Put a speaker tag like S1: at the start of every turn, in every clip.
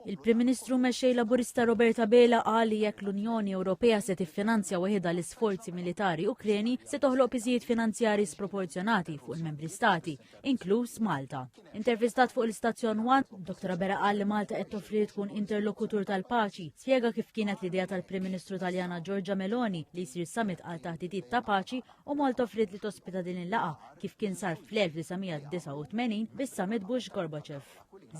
S1: Il-Prim Ministru u Mexxej Laburista Robert Abela qal li jekk l-Unjoni Ewropea se tiffinanzja weħidha l-isforzi militari Ukreni se toħloq piżijiet finanzjari sproporzjonati fuq il-Membri Stati, inkluż Malta. Intervistat fuq l-istazzjon One, Dr. Abela qal li Malta qed toffri tkun interlokutur tal-paċi, spjega kif kienet l-idea tal-Prim Ministru Taljana Giorgia Meloni li jsir summit għal taħdidiet ta' paċi u Malta offriet li tospita din il-laqa kif kien sar fl-1989 bis-summit Bush Gorbachev.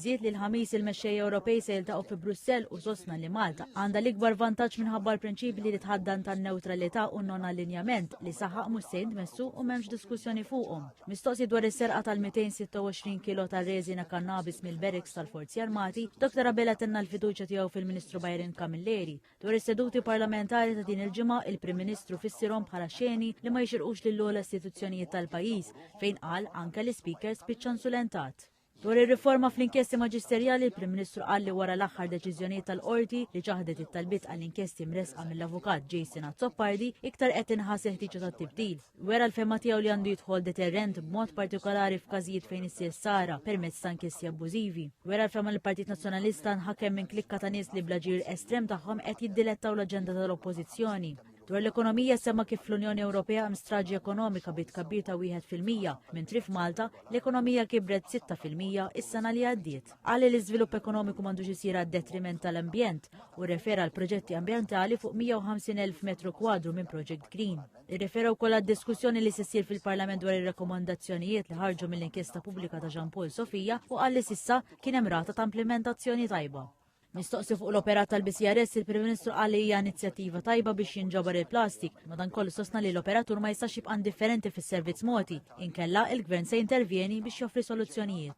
S1: Żied li l-Ħamis il-mexxejja Ewropej se jiltaqgħu fi Brussell u sostna li Malta għandha l-ikbar vantaġġ minħabba l-prinċipji li tħaddan tan-newtralità u non-allinjament li saħaq mhux se jintmessu u m'hemmx diskussjoni fuqhom. Mistoqsi dwar is-serqa tal-226 kilo ta' reżina kannabis mill-Bereks tal-Forzi Armati, Dr. Abela tenna l-fiduċja tiegħu fil-Ministru Byron Camilleri. Dwar is-seduti parlamentari ta' din il-ġimgħa, il-Prim Ministru fissirhom bħala xeni li ma jixirqux lill-ogħla istituzzjonijiet tal-pajjiż fejn qal anke l-Speaker spiċċa insulentat. Dwar ir-riforma fl-inkjesti maġisterjali, il-Prim Ministru qal li wara l-aħħar deċiżjonijiet tal-qorti li ċaħdet it-talbiet għall-inkjesti mressqa mill-avukat Jason Azzopardi iktar qed inħass il-ħtieġa tat-tibdil. Wera l-fehma tiegħu li għandu jidħol deterrent b'mod partikolari f'każijiet fejn issir sara permezz ta' inkjesti abbużivi. Wera l-fehma li l-Partit Nazzjonalista nħakem minn klikka ta' nies li blaġir estrem tagħhom qed jiddilettaw l-aġenda tal-Oppożizzjoni. Dwar l-ekonomija semma kif fl-Unjoni Ewropea hemm straġi ekonomika bi tkabbir ta' wieħed fil-mija, mentri f'Malta l-ekonomija kibret 6 fil-mija is-sena li għaddiet. Qal li l-iżvilupp ekonomiku m'għandux isir għad-detriment tal-ambjent u rrefera għal proġetti ambjentali fuq 150,000 metru kwadru minn Project Green. Irrefera wkoll għad-diskussjoni li se ssir fil-Parlament dwar ir-rakkomandazzjonijiet li ħarġu mill-inkjesta pubblika ta' Jean Paul Sofia u qal li sissa kien hemm rata ta' implementazzjoni tajba. Mistoqsi fuq l-operat tal-BCRS, il-Prim Ministru qal li hija inizjattiva tajba biex jinġabar il-plastik, madankollu sostna li l-operatur ma jistax jibqa' indifferenti fis-servizz mogħti, inkella il-Gvern se jintervjeni biex joffri soluzzjonijiet.